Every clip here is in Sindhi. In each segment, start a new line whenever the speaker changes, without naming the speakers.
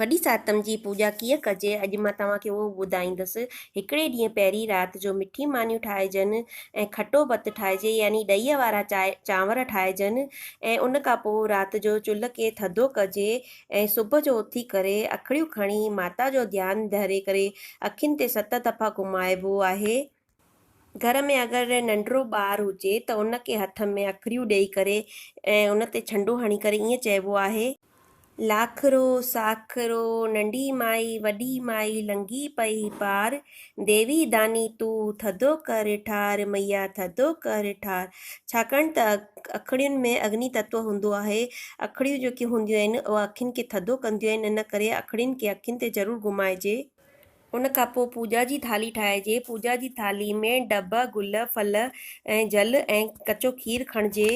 وڏي ساتم جي پوڄا ڪيئن ڪجي، اڄ مان توهان کي اهو ٻڌائيندس. هڪڙي ڏينهن پهرين رات جو مٺي مانيون ٺاهجن ۽ کٽو ڀت ٺاهجي يعني ڏهيء وارا چانور ٺاهجن ۽ ان کان پوء رات جو چلهه کي ٿڌو ڪجي ۽ صبح جو اٿي ڪري اکڙيون کڻي ماتا جو ڌيان ڌري ڪري اکين تي ست دفعا گهمائبو آهي. گهر ۾ اگر ننڍڙو ٻار هجي ته ان کي هٿ ۾ اکريون ڏيئي ڪري ۽ ان تي ڇنڊو هڻي ڪري ائين چئبو آهي. لاکرو، ساکرو، ننڍي مائي، وڏي مائي، لنگهي پئي پار، ديوي داني تون، ٿڌو ڪر ٺار، مئيا ٿڌو ڪر ٺار. ڇاڪاڻ ته اکڙين ۾ اگني تتو هوندو آهي. اکڙيون جيڪي هونديون آهن اها اکين کي ٿڌو ڪنديون آهن ان ڪري اکڙين کي اکين تي ضرور گهمائجي. ان کان پوء پوڄا جي ٿالهي ٺاهجي. پوڄا جي ٿالهي ۾ ڊڀ، گل، ڦل ۽ جل ۽ ڪچو کير کڻجي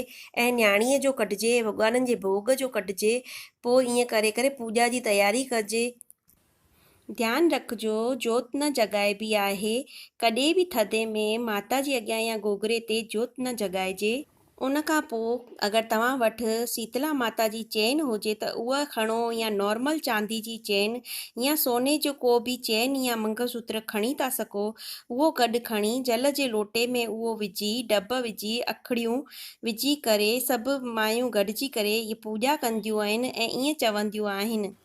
۽ نياڻيء جو ڪڍجي، ڀڳوانن جي ڀوڳ جو ڪڍجي. پوء ائين ڪري ڪري پوڄا جي تياري ڪجي. ڌيان رکجو جوت نه جڳائبي آهي. ڪڏهن به ٿڌي ۾ ماتا جي اڳيان يا گوگري تي جوت نه جڳائجي. ان کان پوء اگر توهان وٽ سيتلا ماتا جي چين هجي ته اها کڻو يا نارمل چاندي جي چين يا سوني جو ڪو به چين يا منگل سوتر کڻي ٿا سگهو اهو گڏ کڻي جل جي لوٽي ۾ اهو وجهي ڊڀ وجهي اکڙيون وجهي ڪري سڀ مايون گڏجي ڪري پوڄا ڪنديون آهن ۽ ائين چونديون آهن ته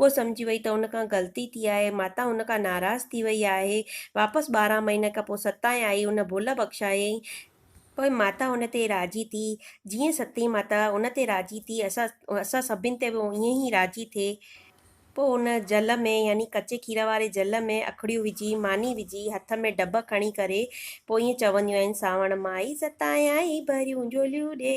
هوء سمجهي وئي ته هن کان غلطي ٿي آهي. ماتا هن کان ناراض ٿي وئي آهي. واپس ٻارهن مهينن کان پوء ستائين آئي هن ڀل بخشايائين. پوء ماتا هن تي راضي ٿي. جيئن ستين ماتا هن تي راضي ٿي اسان اسان سڀن تي به ائين ئي راضي ٿئي. پوء هن جل ۾ يعني ڪچي کير واري جل ۾ اکڙيون وجهي، ماني وجهي، هٿ ۾ ڊٻ کڻي ڪري پوء ائين چونديون آهن سانوڻ مائي ستائين آئي ڀريون جهوليون ڏي.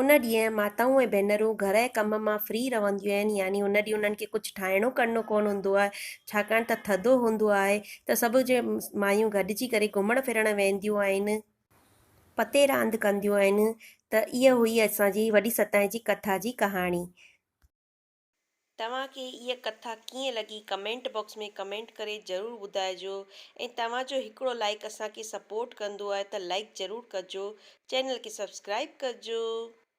ان ڏينهن ماتائون ۽ ڀينرون گهر ۽ ڪم مان فري رهنديون آهن يعني ان ڏينهن انهن کي ڪجهه ٺاهڻو ڪرڻو ڪونه هوندو آهي ڇاڪاڻ ته ٿڌو هوندو آهي ته سڀ جي مايون گڏجي ڪري گهمڻ ڦرڻ وينديون آهن پتي راند ڪنديون آهن ته اها هئي اسان جي وڏي ستائين جي ڪٿا جي ڪهاڻي. توهان کي هيء ڪٿا ڪيئن لڳي ڪمينٽ باڪس ۾ ڪمينٽ ڪري ضرور ٻڌائجو ۽ توهان جو هڪڙو لائيڪ اسان کي سپورٽ ڪندو آهي ته لائيڪ ضرور ڪجو چينل کي سبسڪرائيب ڪجو.